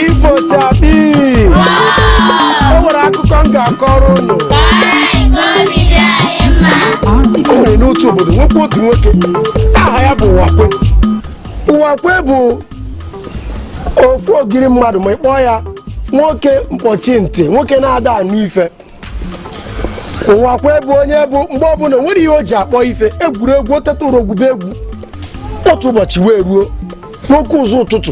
Ifo chakpii o nwere akụkọ m ga-akọrọ unu o nwere n'otu obodo nwekwa otu nwoke aha ya bụ Ụwakwe Ụwakwe bụ ofu ogiri mmadụ ma ị kpọọ ya nwoke mkpọchi ntị nwoke na-ada anụ ife Ụwakwe bụ onye bụ mgbe ọbụla nwere ihe o ji akpọ ife egwuregwu o teta ụra o gwube egwu otu ụbọchị wee ruo n'oke ụzọ ụtụtụ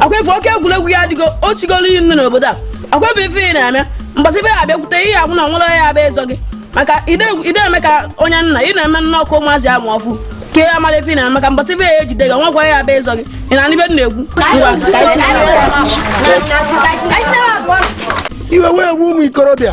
Ụwakwe oke egwuregwu ya adịgo o chigoro iyi nnu n'obodo a Ụwakwe ife ị na-eme mbọsị ife ya-abịakwute ihe ahụ na o nwerọ onye ya-abịa ịzọ gị maka ide ide eme ka onye nna ị na-eme nna ọkụ ụmụazị amụ ọfụ ka ya mara ife ị na-eme maka mbọsị ife ya-ejide gị nwekwa ya abịa ịzọ gị ị na n'ibe m na-egwu ngwa ka anyị si- iwe wee gbuo ụmụ ikorobịa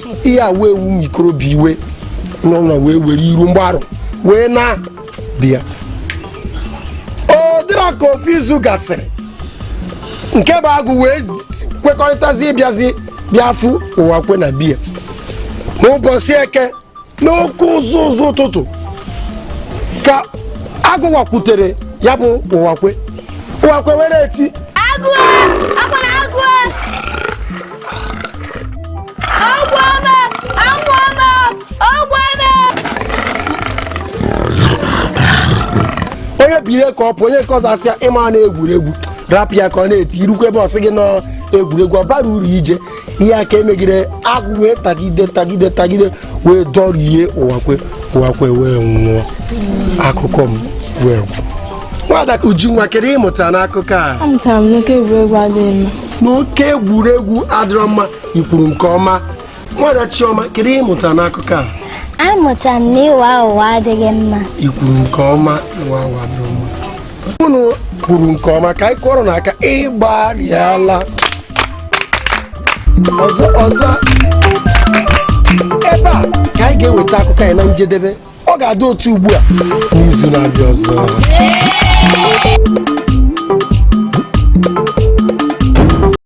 ihe a wee wee ụmụ ikorobịa iwe n'ụlọ wee were iru mgbarụ wee naa be ha ọ dịrị ka ofu izu gasịrị nke bụ agụ wee kwekọrịtazi ịbịazi bịa fụ Ụwakwe na be ya n'ụbọchị eke n'oke ụzụ ụzụ ụtụtụ ka agụ wakwutere ya bụ Ụwakwe Ụwakwe were eti agụ akwa na agụ onye biri ka ọ pụ onye nke ọzọ asị ya ị ma na egwuregwu rapụ ya ka ọ na-eti i rukwe ebe ọ sị gị na ọ egwuregwu ọ bara uru ije ihe a ka e megide agụ wee tagide tagide tagide wee dọrie Ụwakwe Ụwakwe wee nwụọ akụkọ m wee gwụ nwada Ujunwa kedu ihe ị mụta n'akụkọ a amụtara m na oke egwuregwu adịghị mma na oke egwuregwu adịrọ mma i kwuru nke ọma nwada Chioma kedu ihe ị mụta n'akụkọ a amụta m na ịgha ụgha adịghị mma i kwuru nke ọma ịgha ụgha adịrọ mma unu kwuru nke ọma ka anyị kụọrọ unu aka ị gbarịala ọzọ ọzọ ebe a ka anyị ga-eweta akụkọ anyị na njedebe ọ ga-adị otu ugbu a n'izu na-abịa ọzọ